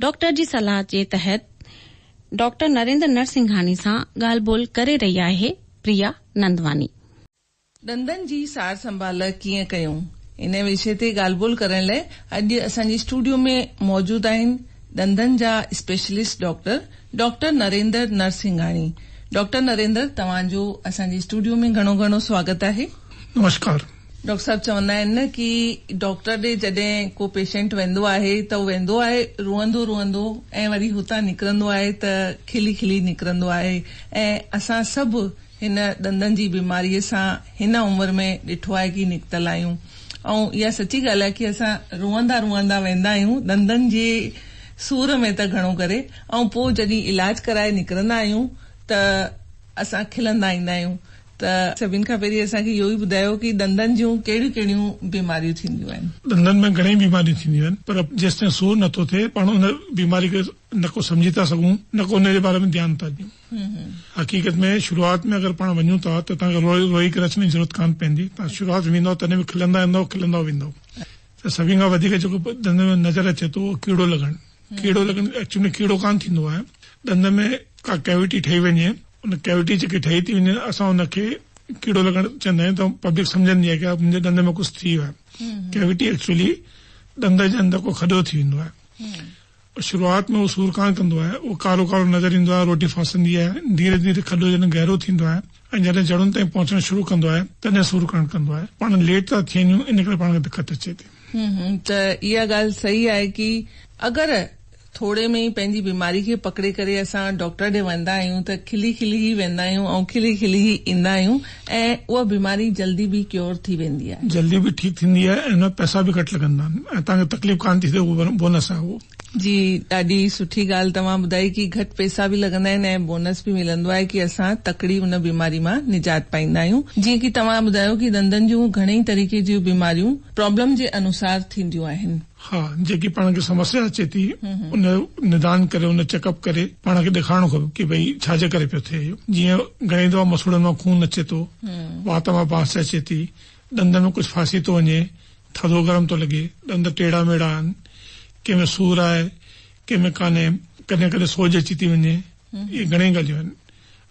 Doctor جي صلاح جي تحت ڊاڪٽر نريندر نرسنگهاني سان ڳالهه ٻولهه ڪري رهي آهي پريا نندواني. ڏندن جي سار سنڀال ڪيئن ڪيون؟ ان وشي تي ڳالهه ٻولهه ڪرڻ لاء اڄ اسان جي اسٽوڊيو ۾ موجود آهن ڏندن جا specialist doctor doctor Narendra Narsinghani. Doctor Narendar توهان جو اسان جي اسٽوڊيو ۾ گهڻو گهڻو سواگت آهي. نمشڪار. ڊاڪٽر صاحب چوندا آهن نه ڪي ڊاڪٽر ڏي جڏهن ڪو پيشنٽ ويندو آهي ته هو ويندو آهي روئندو روئندو ۽ وري هتان نڪرندو آهي ته کلي کلي نڪرندو آهي ۽ اسان سڀ هن ڏندن جي بيماري سان هن عمر ۾ ڏٺو آهي ڪي نڪتل آهيون ۽ اها سچي ڳالهه آهي ڪي اسان روئندا روئندا ويندا آهيون ڏندن جي سور ۾ ته گهڻو ڪري ۽ پوء جڏهن علاج ڪرائي نڪرندا آهيون ته اسان کلندا ايندا آهيون ته سڀني کان پهرين اسان کي اهو ئي ٻڌايو ڪي ڏندن جون ڪهڙيون ڪهڙيون بيماريون ٿينديون آهن. ڏندن ۾ گهڻيئي بيماريون ٿينديون آهن پر جيستائين سور نه ٿو ٿئي پاڻ ان بيماري کي نه ڪو سمجهي ٿا سگهون نه ڪو ان جي باري ۾ ڌيان ٿا ڏيون حقيقت ۾ شروعات ۾ اگر پاڻ وڃون ٿا ته توهان کي روئي ڪري اچڻ جي ضرورت ڪانه پوندي توهان شروعات ۾ ويندؤ تڏهن به کلندا ايندؤ کلندا ويندؤ ته سڀني کان وڌيڪ جيڪو ڏندن ۾ نظر اچي ٿو اهو ڪيڙو لڳڻ. ڪيڙو لڳڻ ايڪچوئل ۾ ڪيڙو ڪانه ٿيندو آهي ڏند ۾ ڪا ڪيوٽي ٺهي وڃي ان ڪيوٽي جيڪي ٺهي ٿي وڃي اسان ان کي ڪيڙو لڳڻ چوندا آهيون ته پبلڪ سمجهندي آهي ڪه منهنجي ڏند ۾ ڪجهه ٿي ويو آهي ڪيوٽي ايڪچوئلي ڏند جي اندر ڪو کڏو ٿي ويندو آهي شروعات ۾ اهو سور ڪانه ڪندو آهي اهو ڪارو ڪارو نظر ايندو آهي روٽي ڦاسندي آهي ڌيري ڌيري کڏو جڏهن گهرو ٿيندو آهي ۽ جڏهن جڙن تائين پهچڻ شروع ڪندو آهي تڏهن سور ڪرڻ ڪندو آهي پاڻ ليٽ ٿا ٿين يون ان ڪري پاڻ کي دقت اچي ٿي. هون هون ته اها ڳالهه صحيح آهي ڪي اگر ٿوري ۾ ئي پنهنجي بيماري کي پڪڙي ڪري اسان ڊاڪٽر ڏي ويندا آهيون ته کلي کلي ئي ويندا آهيون ۽ کلي کلي ئي ايندا آهيون ۽ اها بيماري جلدي به ڪيور ٿي ويندي آهي. جلدي به ٺيڪ ٿيندي آهي ۽ ان ۾ پئسا به گهٽ لڳندا آهن ۽ توهان کي تڪليف ڪانه ٿي ٿئي اهو بونس آهي اهو. جي ڏاڍي سٺي ڳالھ توهان ٻڌائي ڪي گهٽ پيسا به لڳندا آهن ۽ بونس به ملندو آهي ڪي اسان تڪڙي ان بيماري مان نجات پائيندا آهيون جيئن ڪي توهان ٻڌايو ڪي ڏندن جون گهڻئي طريقي جون بيماريون پرابلم جي انوسار ٿينديون آهن. ها جيڪي پاڻ کي سمسيا اچي ٿي ان جو ندان ڪري ان چيڪ اپ ڪري پاڻ کي ڏيکارڻو کپي ڪي ڀئي ڇا جي ڪري پيو ٿئي اهو جيئن گهڻئي دفعا مسوڙن مان خون اچي ٿو وات مان بانس اچي ٿي ڏندن ۾ ڪجهه ڦاسي ٿو وڃي، ٿڌو گرم ٿو لڳي، ڏند ٽيڙا ميڙا آهن، ڪنهن ۾ سور آهي، ڪنهن ۾ ڪانهي، ڪڏهن ڪڏهن سوڄ اچي ٿي وڃي، اهي گهڻيئي ڳالهيون آهن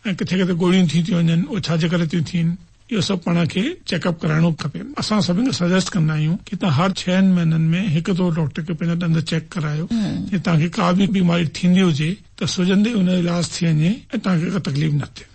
۽ ڪٿي ڪٿي ڳوڙهيون ٿيون ٿي وڃن، اهي ڇا جي ڪري ٿيون ٿين، اهو سڀ پاڻ کي چيڪ اپ ڪرائڻو کپي. اسان سڀني کي سجيسٽ ڪندا آهيون ته توهان هر ڇهن مهينن ۾ هڪ دفعو ڊاڪٽر کي پنهنجا ڏند چيڪ ڪرايو، جي توهان کي ڪا به بيماري ٿيندي هجي ته سجهندي ئي ان جو علاج ٿي وڃي ۽ توهان کي ڪا تڪليف نه ٿئي.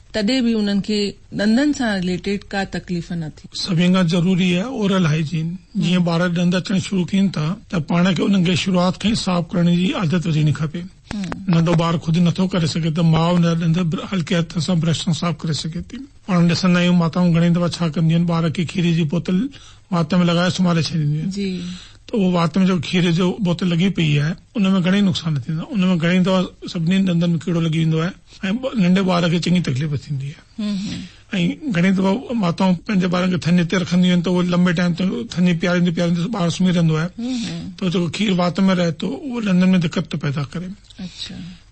تڏهن به انهن کي ڏندن سان رليٽيڊ ڪا تڪليف نه ٿي. سڀني کان ضروري آهي اورل هائيجين جيئن ٻار ڏند اچڻ شروع ڪين ٿا ته پاڻ کي انهن کي شروعات کان ئي صاف ڪرڻ جي عادت وجهڻي کپي ننڍو ٻار خود نٿو ڪري سگهي ته ماء ان جا ڏند هلڪي هٿ سان برش سان صاف ڪري سگهي ٿي پاڻ ڏسندا آهيون ماتائون گهڻي دفعا ڇا ڪنديون آهن ٻار کي کير جي بوتل وات ۾ لڳائي سمهاري ڇڏينديون آهن ته اهو وات ۾ جيڪو کير جو بوتل لڳي پئي آهي ان ۾ گهڻي نقصان ٿيندا ان ۾ گهڻي دفعا سڀني ڏندن ۾ ڪيڙو لڳي ويندو آهي. ۽ ننڍي ٻار کي چڱي تڪليف ٿيندي آهي ۽ گهڻي دفعا ماتائون پنهنجي ٻارن کي ٿڃ تي رکنديون آهن ته اهو لمبي ٽائيم تائين ٿڃ پياريندي پياريندي ٻار سمهي رهندو آهي ته جيڪو کير وات ۾ رهي ٿو اهو ڏندن ۾ دقت ٿو پيدا ڪري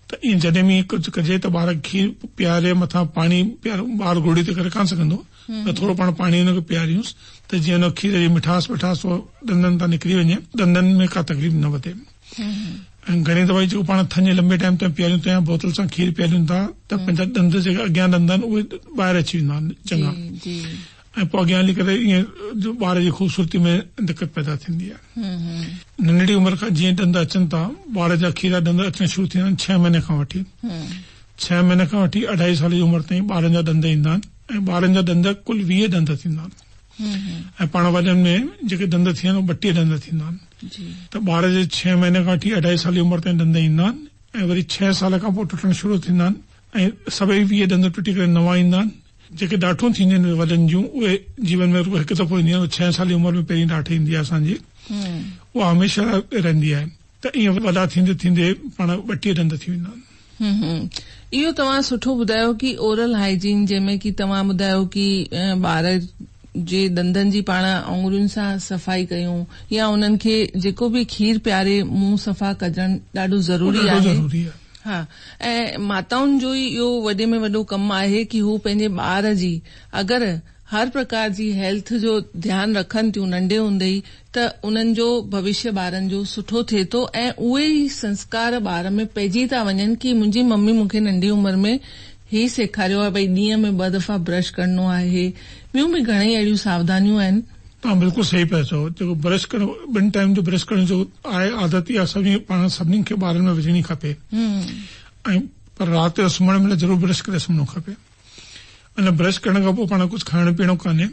ته ائين جڏهن به ڪجهه ڪجي ته ٻار کي کير پياري مٿان پاڻي پيار ٻار گهوڙي تي ڪري ڪانه سگهندو ته ٿورو پاڻ پاڻي ان کي پياريوس ته جيئن ان کير جي مٺاس وٺاس ڏندن تان نڪري وڃي ڏندن ۾ ڪا تڪليف نه وڌي ۽ گهڻي دفعي جيڪو پاڻ ٿڃ لنبي ٽائيم تائين پياريون تنهن بوتل سان کير پياريون ٿا ته پنهنجا ڏند جيڪي اڳيان ڏند آهن اهي ٻاهر اچي ويندا آهن چڱا ۽ پوء اڳيان هلي ڪري ائين ٻار جي خوبصورتي ۾ دقت پيدا ٿيندي آهي ننڍڙي عمر کان جيئن ڏند اچن ٿا ٻار جا کيرا ڏند اچڻ شروع ٿيندا آهن ڇهه مهيني کان وٺي ڇهه مهيني کان وٺي اڍائي سال جي عمر تائين ٻارن جا ڏند ايندا آهن ۽ ٻارن جا ڏند ڪل ويهه ڏند ٿيندا آهن ۽ پاڻ وڏن ۾ جيڪي ڏند ٿين اهي ٻٽيهه ڏند ٿيندا آهن ته ٻار جي ڇهين مهيني کان وٺي اڍائي سال جي عمر تائين ڏند ايندا آهن ۽ وري ڇهين سال کان پوء ٽٽڻ شروع ٿيندا آهن ۽ سڀئي ويهه ڏند ٽٽي ڪري نوان ايندا آهن جيڪي ڏاٺون ٿينديون آهن وڏن جون اهي جيون ۾ رڳو هڪ دفعو اينديون آهن ڇهين سال جي عمر ۾ پهرين ڏاٺ ايندي آهي اسان جي اها هميشه لاء رهندي آهي ته ائين وڏا ٿيندي ٿيندي پاڻ ٻٽيهه ڏند ٿي ويندا آهن. اهو توهان سٺو ٻڌايو ڪي اورل هائيجين جنهن ۾ ڪي توهان ٻڌايو ڪي ٻار جي ڏندن جي پاڻ آڱرين سان صفائي ڪيون يا انهن کي جيڪو به کير پياري منهن صفا ڪجڻ ڏاڍو ضروري آهي ها ۽ ماتائن جو ئي اهو وڏي ۾ وڏو ڪم آهي ڪي هو پنهنجي ٻار جي اگر هر پرڪار جي هيلٿ جو ڌيان رکن ٿيون ننڍي هوندي ئي ته انهن جو ڀوشيه ٻارن جو سٺو ٿئي ٿو ۽ اهي ئي سنسڪار ٻار ۾ پئجي ٿا وڃن ڪي منهنجي ممي مون کي ننڍي عمر ۾ هي سيکاريو آهي ڀئي ڏينهن ۾ ٻه دفعا برش ڪرڻو آهي ٻيون به گهڻيئي اهڙيون ساوڌانيون آهن. توهان بلڪل صحيح پيا چئو جيڪو برش ڪرڻ ٻن ٽائيم جو برش ڪرڻ جو آهي عادت اها سڀني پاڻ سڀني کي ٻارن ۾ وجهڻي کپي ۽ پر رات جو سمهڻ مهل ضرور برش ڪري سمهڻو کپي ان برش ڪرڻ کان پوء پاڻ ڪجهه کائڻو پيئڻو ڪانهي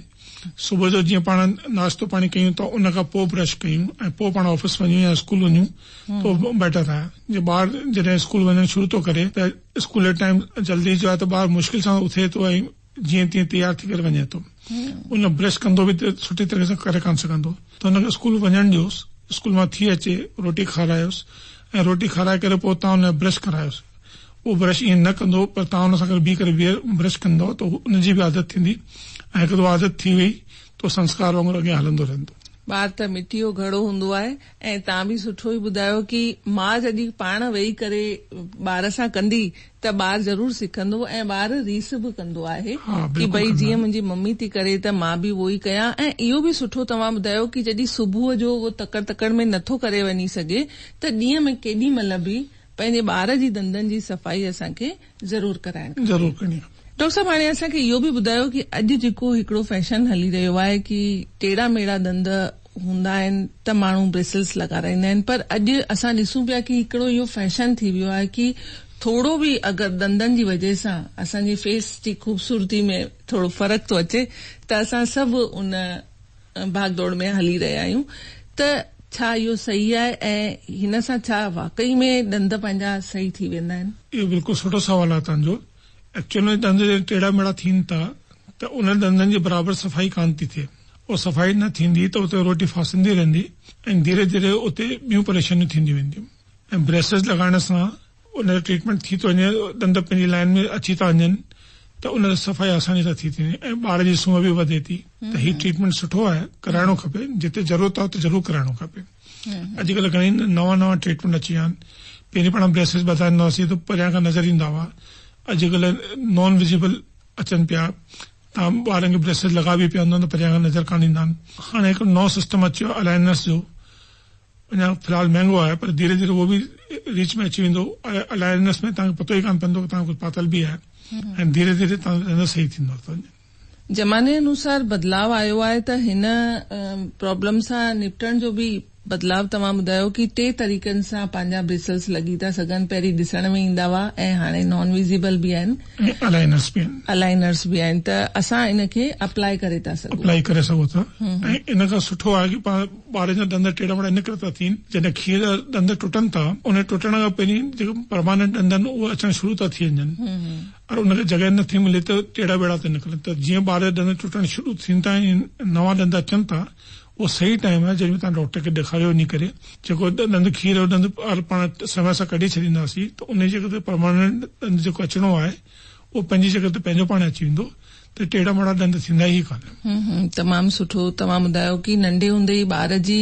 صبح جو جيئن پاڻ ناشتو پاڻي ڪيون ته ان کان پوء برش ڪيون ۽ پوء پاڻ آفيس وڃون يا اسڪول وڃون تو بيٽر آهي جي ٻار جڏهن اسڪول وڃڻ شروع ٿو ڪري ته اسڪول جو ٽائيم جلدي جو آهي ته ٻار مشڪل سان اٿي ٿو ۽ جيئن تيئن تيار ٿي ڪري وڃي ٿو ان برش ڪندو به ته سٺي طرح سان ڪري ڪانه سگهندو ته ان کي اسڪول وڃڻ ڏيوس اسڪول مان ٿي اچي روٽي کارايوس ۽ روٽي کارائي ڪري پوء تان ان برش ڪرايوس اهو برش ائين نه ڪندو پر توهان ان سان گڏ بيهي ڪري برش ڪندؤ ته ان جي به عادت ٿيندي ۽ هڪ دفعو عادت ٿي وئي ته اهو سنسڪار وانگر اڳيان هلندو رهندو. ٻار ته مٽيء جو گهڙو هوندو آهي ۽ توهان به سٺو ئي ٻڌايو ڪي ماء جڏهن پاڻ ويهي ڪري ٻار سان ڪندي ته ٻار ضرور سکندو ۽ ٻار ريس به ڪندو آهي ڪي ڀئي جيئن منهنجي ممي ٿي ڪري ته مان به اهو ئي ڪيان ۽ اهو به سٺو توهان ٻڌايو ڪي جڏهن صبح جو اهو تڪڙ تڪڙ ۾ نٿو ڪري وڃي سگهي ته ڏينهن ۾ ڪيڏي مهل به پنهنجي ٻار جي ڏندن جي صفائي اسان کي ضرور ڪرائڻ کپي. ضرور ڪرڻي کپي. ڊاڪٽر صاحب هاڻي اسان کي اهو به ٻڌايو ڪي اڄ جيڪو هڪڙو فيشن هلي رهيو آهي ڪي ٽيڙا ميڙا ڏند هوندا آهن ته ماڻهو بريسلس لڳارائيندا آهن پر اڄ اسان ڏسون پيا ڪي هڪڙو اهو فيشن ٿي ويو آهي ڪي ٿورو به اگر ڏندن جي وجهه سان اسان جي فيس جي خوبصورتي ۾ ٿورو فرق ٿو اچي ته اسان سڀ ان ڀاڳ ڊوڙ ۾ هلي رهيا آهيون ته ڇا اهو صحيح آهي ۽ هن سان ڇا واقعي ۾ ڏند پنهنجا صحيح ٿي ويندا آهن؟ اهو بلڪل سٺو سوال آهي توهان جو. ايڪچوئل ۾ ڏند جڏهن ٽيڙا ميڙا ٿين ٿا ته انهن ڏندن جي برابر صفائي ڪانه ٿي ٿئي. اها صفائي نه ٿيندي ته اتي روٽي ڦاسندي رهندي ۽ ڌيري ڌيري اتي ٻيون پريشانيون ٿينديون وينديون ۽ بريسز لڳائڻ سان ان جو ٽريٽمينٽ ٿي ٿو وڃي ڏند پنهنجي لائين ۾ اچي ٿا وڃن ته ان جو صفائي آساني سان ٿي ٿي وڃي ۽ ٻار جي سونهن به وڌي ٿي ته هي ٽريٽمينٽ سٺو آهي ڪرائڻو کپي جتي ضرورت آهي اتي ضرور ڪرائڻو کپي اڄڪلهه گهڻي نوان نوان ٽريٽمينٽ اچي ويا آهن پهرين پاڻ بريسز ٻڌائيندا هئاسين ته پريان کان نظر ايندا هئا اڄڪلهه نان وزيبل اچن پيا تمام ٻارن کي بريسز لڳا به پيا هوندا آهن ته پريان کان نظر ڪانه ايندا آهن هاڻي هڪ نئون سسٽم اچيو الائنرس جو اڃا في الحال مهنگو آهي پر ڌيري ڌيري اهو به ريچ ۾ اچي ويندو الائنس ۾ توهان کي پتو ئي ڪانه پوندو ته توهان ڪجهه پاتل به آهي ۽ ڌيري ڌيري توهان جو رنس صحيح ٿيندو ته وڃي. زماني انوسار بدلاء آيو آهي ته هن پرابلم سان نپٽڻ جو به بدلاء توهان ٻڌايو ڪي ٽي طريقن سان پنهنجا بريسلس لڳي ٿا سگهن پهرين ڏسڻ ۾ ايندا هئا ۽ هاڻي نان ويزيبل به آهن ۽ الائنس به آهن الائنرس به آهن ته اسان ان کي اپلائي ڪري ٿا سگهون. اپلائي ڪري سگهو ٿا ۽ ان کان سٺو آهي ڪي پا. ٻارن جا ڏند ٽيڙا ميڙا ان ڪري ٿا ٿين جڏهن کير جا ڏند ٽٽن ٿا ان ٽٽڻ کان پهرين جيڪي پرماننٽ ڏند آهن اهي اچڻ شروع ٿا ٿي وڃن پر ان کي جڳهه نه ٿي ملي ته ٽيڙا ميڙا ٿا نڪرن ته جيئن ٻار جا ڏند ٽٽڻ شروع ٿين ٿا ۽ نوان ڏند اچن ٿا اهو صحيح ٽائيم آهي جڏهن تان ڊاڪٽر کي ڏيکاريو وڃي ڪري جيڪو ڏند کير جو ڏند پاڻ سمي سان ڪڍي ڇڏينداسين ته ان جي جڳهه تي پرماننٽ ڏند جيڪو اچڻو آهي اهو پنهنجي جڳهه تي پنهنجو پاڻ اچي ويندو ته ٽيڙا ميڙا ڏند ٿيندا ئي ڪانهن. تمام سٺو توهان ٻڌايو ڪي ننڍي هوندي ئي ٻار جي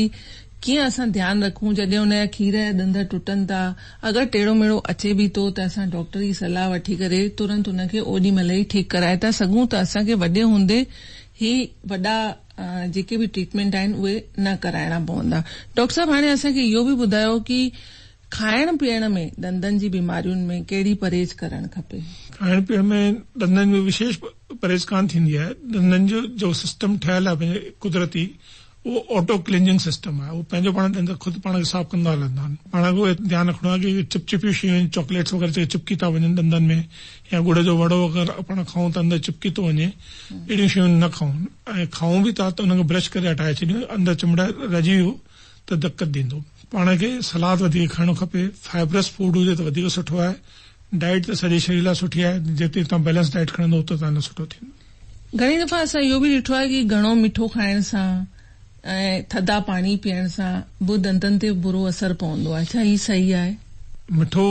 ڪيئن اسان ڌيان رکون جڏهن ان جا کير يا ڏند ٽٽن ٿا اگر ٽيڙو ميڙو اچي به ٿو ته اسان ڊاڪٽر جي صلاح وٺي ڪري ترنت ان کي اوڏي مهل ئي ٺيڪ ڪرائي ٿا سگهون ته اسان کي وڏي هوندي هي وڏا جيڪي به ٽريٽمينٽ آهن اهي نه ڪرائڻا پوندا ڊاڪٽر صاحب هاڻي اسان کي اهو به ٻڌايو ڪي کائڻ پيئڻ ۾ ڏندن جي بيمارين ۾ ڪهڙي پرهيز ڪرڻ کپي؟ کائڻ پيئڻ ۾ ڏندن ۾ وشيش پرهيز ڪانه ٿيندي آهي. ڏندن جو جو سسٽم ٺهيل آهي پنهنجي قدرتي اهو آٽو ڪلينجنگ سسٽم آهي. اهو پنهنجو پاڻ ڏند خود پاڻ کي صاف ڪندا هلندا آهن. پاڻ کي ڌيان رکڻو آهي ڪي چپ چپيون شيون آهن چاڪليٽس وغيره جيڪي چپڪي ٿا وڃن ڏندن ۾ يا ڳڙ جو وڙو اگر پاڻ کائون ٿا اندر چپڪي ٿو وڃي اهڙيون شيون نه کائون ۽ کائون به ٿا ته ان کي برش ڪري هٽائي ڇڏيون اندر چمڙا رهجي ويو ته دقت ڏيندو. پاڻ کي سلاد وڌيڪ کائڻو کپي فائبرس فوڊ هجي ته وڌيڪ سٺو آهي ڊائيٽ ته سڄي شرير لاء سٺي آهي جيتري توهان بيلنس ڊائيٽ کڻندو اوترو توهان لاء سٺو ٿيندو. گهڻي دفعا اسان اهو به ڏٺو آهي ڪي گهڻو مٺو کائڻ سان ۽ ٿڌا پاڻي پيئڻ سان به دنتن تي برو اثر پوندو آهي ڇا هي صحيح آهي؟ مٺو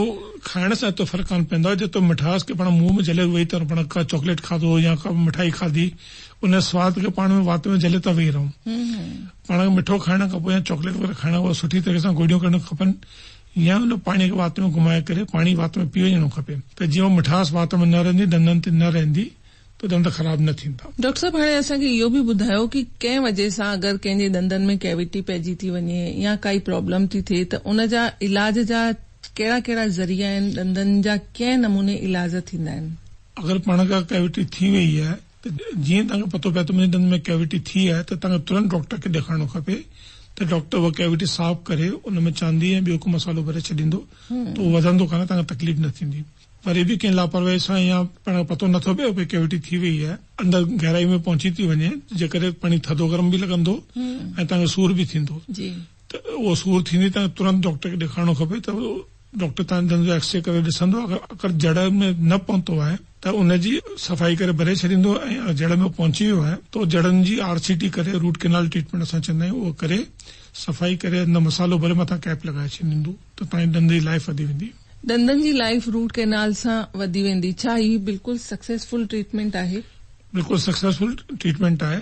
کائڻ سان ايترو فرق ڪانه پوندو آهي جيترو مٺاس کي پاڻ منهن ۾ جهلي ويهي ته پاڻ ڪا چاڪليٽ کاڌو يا ڪا مٺائي کاڌي ان سواد کي پاڻ ۾ وات ۾ جهلي ته ويهي رهون پاڻ کي مٺو کائڻ کان پوء يا چاڪليٽ وغيره کائڻ کان پوء سٺي طريقي سان گوڏيون ڪرڻيون کپن يا ان پاڻي کي وات ۾ گهمائي ڪري پاڻي وات ۾ پي وڃڻو کپي ته جيئن اها مٺاس وات ۾ نه رهندي ڏندن تي نه رهندي ته ڏند خراب نه ٿيندا. ڊاڪٽر صاحب هاڻي اسان کي اهو به ٻڌايو ڪي ڪنهن وجهه سان اگر ڪنهن جي ڏندن ۾ ڪيويٽي پئجي ٿي وڃي يا ڪائي پرابلم ٿي ٿئي ته ان جا علاج جا ڪهڙا ڪهڙا ذريعا آهن ڏندن جا ڪئين نموني علاج ٿيندا آهن. اگر پاڻ کي ڪيويٽي ٿي وئي آهي. ته جيئن توهان کي پتو پئي ته منهنجي ڏند ۾ ڪيوٽي ٿي آهي ته توهان کي ترنت ڊاڪٽر کي ڏيکارڻو کپي ته ڊاڪٽر اها ڪيوٽي صاف ڪري ان ۾ چاندي ۽ ٻيو ڪو مصالحو ڀري ڇڏيندو ته اهو وڌندو ڪانه توهان کي تڪليف نه ٿيندي وري به ڪنهن لاپرواهي سان يا پاڻ کي پتو نه ٿو پئي ڀئي ڪيوٽي ٿي وئي آهي اندر گهرائي ۾ پهچي ٿي وڃي جنهن ڪري پاڻي ٿڌو گرم به لڳندو ۽ توهان کي سور به ٿيندو ته اهو سور ٿيندي توهان کي ترنت ڊاڪٽر کي ڏيکارڻو کپي ته ڊاڪٽر تنهنجي دنهن جو ايڪسري ڪري ڏسندو اگر جڙ ۾ نه پهتو آهي ته ان جي صفائي ڪري ڀري ڇڏيندو ۽ اگر جڙ ۾ پهچي ويو آهي ته جڙن جي آر سي ٽي ڪري روٽ ڪينال ٽريٽمينٽ اسان چوندا آهيون اهو ڪري صفائي ڪري اندر مصالحو ڀري مٿان ڪيپ لڳائي ڇڏيندو ته تنهنجي ڏند جي لائيف وڌي ويندي. ڏندن جي لائيف روٽ ڪينال سان وڌي ويندي ڇا هي بلڪل سڪسيسفل ٽريٽمينٽ آهي؟ بلڪل سڪسيسفل ٽريٽمينٽ آهي.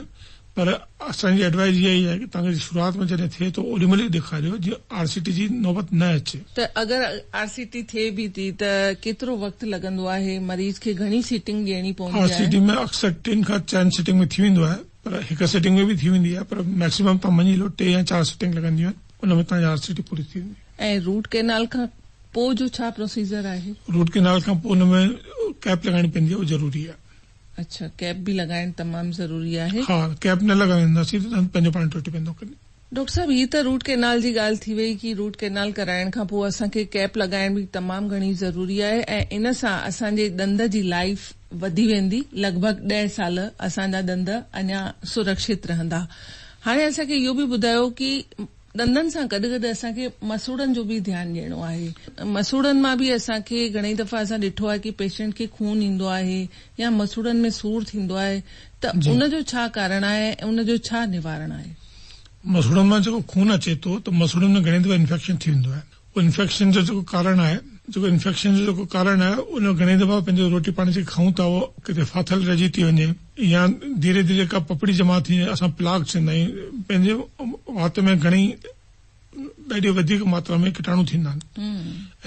پر اسان جي ايڊوائيز اها ئي آهي ته تنگ جي شروعات ۾ جڏهن ٿئي ته اوڏي مهل ئي ڏيکاريو جيئن آر سي ٽي جي نوبت نه اچي. ته اگر آر سي ٽي ٿئي به ٿي ته ڪيترو وقت لڳندو آهي، مريض کي گهڻي سيٽنگ ڏيڻي پوندي آهي؟ آر سي ٽي ۾ اڪثر ٽن کان چئن سيٽنگ ۾ ٿي ويندو آهي پر هڪ سيٽنگ ۾ به ٿي ويندي آهي پر ميڪسيمم توهان مڃي هلو ٽي يا چار سيٽنگ لڳنديون آهن ان ۾ توهان جي آر سي ٽي پوري ٿي ويندي. ۽ روٽ ڪينال کان پوء جو ڇا پروسيجر آهي؟ روٽ ڪينال کان پوء ان ۾ ڪيپ لڳائڻي پوندي آهي اهو ضروري آهي. اڇا ڪيپ به لڳائڻ تمام ضروري آهي. ها ڪيپ نه لڳائينداسين ته ڏند پنهنجو پاڻ ٽٽي پوندو. ڊاڪٽر صاحب هي ته روٽ ڪينال جي ڳالهه ٿي وئي ڪي روٽ ڪينال ڪرائڻ کان پوء اسان کي ڪيپ لڳائڻ به تمام گهڻي ضروري آهي ۽ ان سان اسان جي ڏند جي لائيف وڌي ويندي لڳ ڀڳ ڏهه سال اسان جا ڏند اڃا سرڪشت رهندا هاڻي اسان کي اهو به ٻڌايو ڪي ڏندن سان گڏ گڏ اسان کي مسوڙن جو به ڌيان ڏيڻو آهي مسوڙن مان به اسان کي گهڻي دفعا اسان ڏٺو آهي ڪي پيشنٽ کي خون ايندو آهي يا مسوڙن ۾ سور ٿيندو آهي ته ان جو ڇا ڪارڻ آهي ۽ ان جو ڇا نوارڻ آهي. مسوڙن مان جيڪو خون اچي ٿو ته مسوڙن ۾ گهڻي دفعا انفيڪشن ٿي ويندو آهي. انفيڪشن جو جيڪو ڪارڻ آهي جيڪو انفيڪشن جو جيڪو ڪارڻ آهي ان گهڻي دفعا پنهنجو روٽي پاڻي جيڪي کائون ٿا اهو ڪٿي ڦاٿل رهجي ٿي وڃي يا ڌيري ڌيري ڪا پپڙي جمع ٿي وڃي اسان پلاڪ چوندا آهيون پنهنجي وات ۾ گهڻي ڏاڍي وڌيڪ ماترا ۾ ڪٽاڻو ٿيندا آهن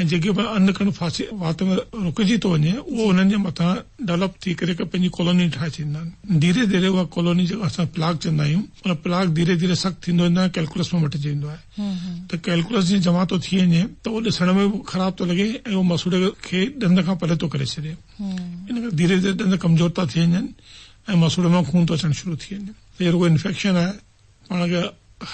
۽ جيڪي به ان کڻ ڦاسي وات ۾ رڪجي ٿو وڃي اهو انهن جي مٿان ڊولپ ٿي ڪري پنهنجي ڪالوني ٺاهي ڇڏيندا آهن ڌيري ڌيري اها ڪالوني جيڪا اسان پلاڪ چوندا آهيون ان پلاڪ ڌيري ڌيري سخت ٿيندو ويندو آهي ڪيلڪولس ۾ مٽجي ويندو آهي ته ڪئلڪولس جيئن جمع ٿو ٿي وڃي ته اهو ڏسڻ ۾ به خراب ٿو لڳي ۽ اهو مسوڙي کي ڏند کان پري ٿو ڪري ڇڏي ان ڪري ڌيري ڌيري ڏند ڪمزور ٿا ٿي وڃن ۽ مسوڙي مان خون ٿو اچڻ شروع ٿي وڃي هي رڳو انفيڪشن آهي پاڻ کي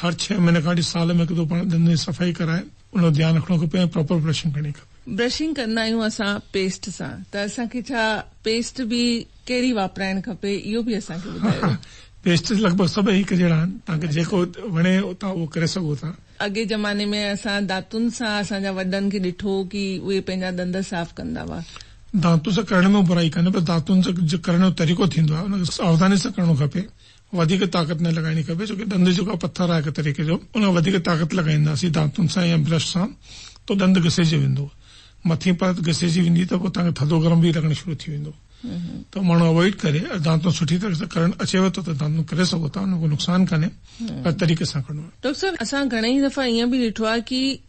هر ڇهه مهيني کان وٺي سال ۾ هڪ دفعو پاڻ ڏندن جي صفائي ڪرائي ان جو ڌيان رکڻو کپي ۽ پراپر برشنگ ڪرڻي کپي. برشنگ ڪندا آهيون اسان پيسٽ سان ته اسان کي ڇا پيسٽ به ڪهڙي واپرائڻ کپي اهو به اسان کي ٻڌايو. پيسٽس لڳ ڀڳ سڀ هڪ جهڙا آهن توهان کي جيڪو وڻي توهان اهو ڪري سگهو ٿا. اڳئين زماني ۾ اسان دانتن سان اسان جا وڏن کي ڏٺو ڪي اهي پنهنجا ڏند صاف ڪندا هئا. دانتن سان ڪرڻ ۾ برائي ڪانهي پر دانتن سان جو ڪرڻ جو طريقو ٿيندو آهي ان کي ساوڌاني سان ڪرڻو کپي وڌيڪ طاقت نه لڳائڻي کپي ڇوڪه ڏند جيڪو آهي پٿر آهي هڪ طريقي جو ان وڌيڪ طاقت لڳائينداسين دانتن سان يا برش سان تو ڏند گسيجي ويندو مٿين پرت گسيجي ويندي ته پوء توهان کي ٿڌو گرم به لڳڻ شروع ٿي ويندو تو ماڻهو اوائڊ ڪري دانتون سٺي طريقي سان ڪرڻ اچيو ته دانتون ڪري سگهو ٿا ان ۾ ڪو نقصان ڪانهي پر طريقي سان ڪرڻو آهي. ڊاڪٽر صاحب اسان گهڻي ئي دفعا ائين به ڏٺو آهي ڪي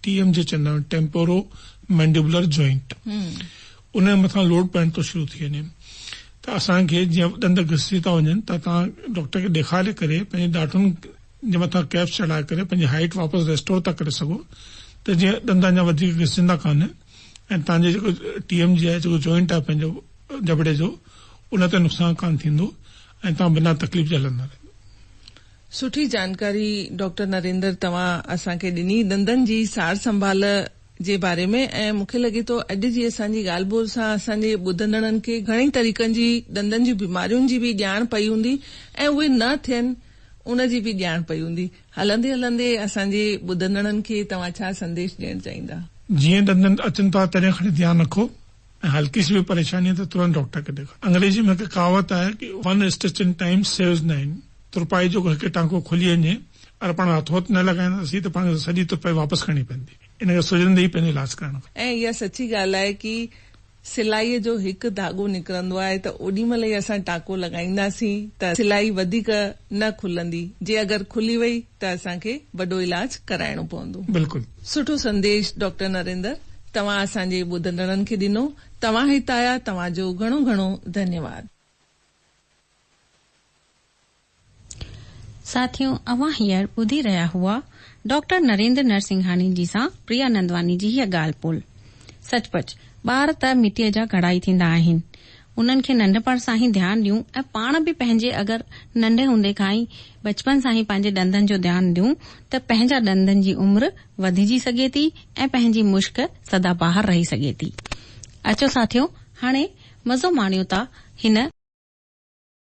ٽي ايم جي چئندا آهيون ٽيمپورو مينڊيبولر جوائنٽ ان جي مٿان لوڊ پوائنٽ ٿو شروع ٿي وڃي ته اسان کي جيئن ڏند گسجي ٿا وڃن ته تان ڊاڪٽر کي ڏيکاري ڪري پنهنجي ڏاٺن جي مٿان ڪيپس چڙهائي ڪري پنهنجي هائيٽ واپس ريسٽور ٿا ڪري سگهو ته جيئن ڏند اڃا وڌيڪ گسجندا ڪانه ۽ تان جو جيڪو ٽي ايم جي آهي جيڪو جوائنٽ آهي پنهنجو جبڙي جو ان تي نقصان ڪانه ٿيندو ۽ تان بنا تڪليف جي هلندا رهندا سٺي جانڪاري ڊاڪٽر نريندر توهان اسان کي ڏني ڏندن جي سار سنڀال جي باري ۾ ۽ مون کي لڳي ٿو اڄ جي اسان جي ڳالهه ٻولهه سان اسان جي ٻڌندڙن کي گهڻي طريقن جي ڏندن جي بيمارين جي به ڄاڻ پئي هوندي ۽ اهي نه ٿين ان جي به ڄاڻ پئي هوندي هلندي هلندي اسان جي ٻڌندڙن کي توهان ڇا سنديش ڏيڻ چاهيندا. جيئن ڏندن اچن ٿا تڏهن کڻي ڌيان رکو. ۽ هلڪي سي به پريشاني ته ترنت ڊاڪٽر کي ڏيکارو. انگريزي ۾ هڪ ڪهاوت آهي ڪي one stitch in time saves nine ترپائي جيڪو هڪ ٽانڪو کلي وڃي اگر پاڻ هٿو هٿ نه لڳائينداسين ته پاڻ کي سڄي ترپائي واپس ڪرڻي پوندي ان ڪري سجهندي ئي پنهنجو علاج ڪرائڻ گهرجي. ۽ اها سچي ڳالهه آهي ڪي سلائيء جو هڪ ڌاڳو نڪرندو آهي ته اوڏي مهل ئي اسان ٽانڪو لڳائينداسين ته سلائي وڌيڪ نه کلندي جي اگر کلي وئي ته اسان کي وڏو علاج ڪرائڻو پوندو. بلڪل. سٺو سنديش ڊاڪٽر نريندر توهان اسان جي ٻڌندڙن کي ڏنو توهان هت آيا توهان جو گهڻو گهڻو ڌنيواد. ساٿيو اوهان هينئر ٻڌي رهيا هئا ڊاڪٽر نريندر نرسنگهاني جي سان پريا نندواني جي هيء ڳالهه ٻولهه. سچ پچ ٻار ته مٽيء جا گهڙا ئي ٿيندا آهن. انهن کي ننڍپڻ سان ئي ڌيان ڏيون ۽ پاڻ به پنهنجي اگر ننڍي هوندي کان ئي بچپن سان ئي پنهنجي ڏندن جو ڌيان ڏيون ته پنهنجا ڏندن جي عمر وڌجي سگهي ٿي ۽ پنهنجي مشڪ سدا بهار رهي سگهي ٿي اچو ساٿيو هاڻي مزو ماڻيون ٿا هن